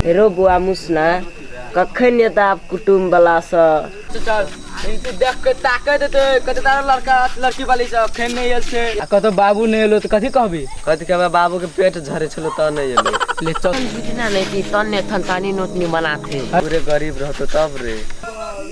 हेरो बुआ मुसना कखन एतऽ आब कुटुम बला सब देख के ताकत हेतै कते तारा लड़का लड़की वाली सब अखन नहि आयल छै आ कतौ बाबू नहि एलो तऽ कथी कहबी कथी कहबै बाबू के पेट झरे छलो तऽ नहि एलो ले चल बुझना नहीं कि तन्ने थनथानी नोटनी बनाते पूरे गरीब रहतो तब रे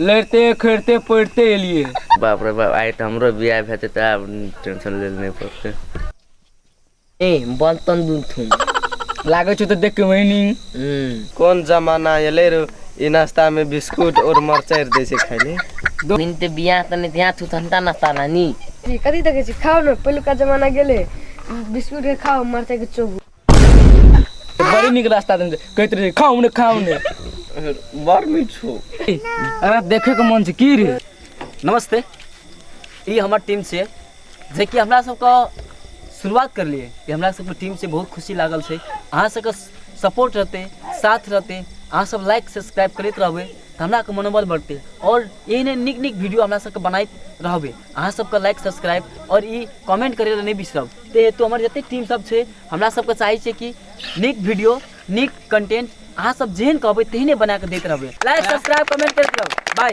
लड़िते खड़िते पढ़िते एलियै बाप रे बाप आइ तऽ हमरो बियाह हेतै तऽ आब टेंशन लेल नहि पड़तै ए बन तन दुन थुन लागै छौ तऽ देख के वहिनी कोन जमाना एलै रे ई नाश्ता में बिस्कुट और मरचाइ दै छै खाय ले दिन ते बियाह तऽ नहि ध्यान छौ ठंडा नाश्ता नानी कथी देखै छी खाओ ने पहिलुका जमाना गेलै बिस्कुट के खाओ मरचाइ के चोबू बड़ी नीक रास्ता देने छै। कहैत रहै खाउ ने खाउ ने बड़ मीठ छौ अरे देखैके मन छै की रे नमस्ते ई हमर टीम छै जेकि हमरा सबके शुरुआत करलिए ई हमरा सबके टीम छै बहुत खुशी लागल छै अहाँ सबके सपोर्ट रहतै साथ रहतै अहाँ सब लाइक सब्सक्राइब करैत रहबै तऽ हमरा के मनोबल बढ़तै आओर एहने नीक नीक वीडियो हमरा सबके बनाइत रहबै अहाँ सबके लाइक सब्सक्राइब आओर ई कमेंट करै लए नहि बिसरब ताहि हेतु हमर जतेक टीम सब छै हमरा सबके चाहै छै कि नीक वीडियो नीक कंटेंट अहाँ सब जेहन कहबै तेहने बना कऽ दैत रहबै लाइक सब्सक्राइब कमेंट करैत रहबै बाय